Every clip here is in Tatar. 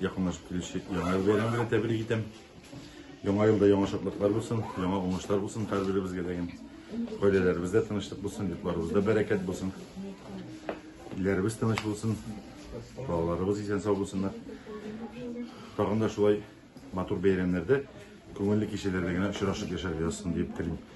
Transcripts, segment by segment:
Якынлашып килүче яңа ел бәйрәме белән тәбрик итәм. Яңа елда яңа шатлыклар булсын, яңа уңышлар булсын һәрберебезгә дә. Гаиләләребездә тынычлык булсын, йортларыбызда бәрәкәт булсын. Илләребез тыныч булсын, балаларыбыз исән сау булсыннар. Тагын да шулай матур бәйрәмнәрдә, күңелле кичәләрдә генә очрашып яшәргә язсын дип телим.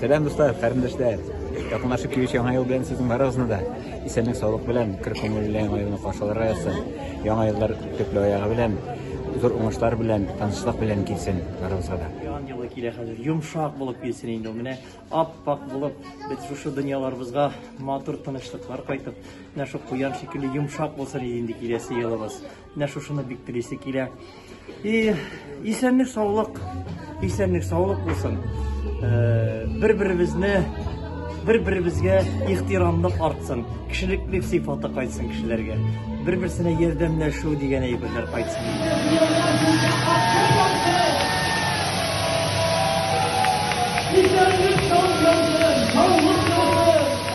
Сәлам дуслар, карендәшләр. Якынлашып килүче яңа ел белән сезнең барыгызны да исәнлек саулык белән көр күңелле яңа елны каршыларга язсын. Яңа еллар төпле аягы белән, зур уңышлар белән, тынычлык белән килсен барыгызга да. Яңа елы килә хәзер. Йомшак булып килсен инде ул. Менә ап-ак булып, без шушы дөньяларыбызга матур тынычлыклар кайтып, менә шул куян шикелле йомшак булсын инде киләсе елыбыз. Менә шушыны бик телисе килә. И исәнлек саулык, исәнлек саулык булсын. Э, Бер-беребезне бер-беребезгә ихтирамлык артсын, кешелеклек сыйфаты кайтсын кешеләргә. Бер-берсенә ярдәмләшү дигән әйберләр кайтсын. Исәнлек саулык, саулык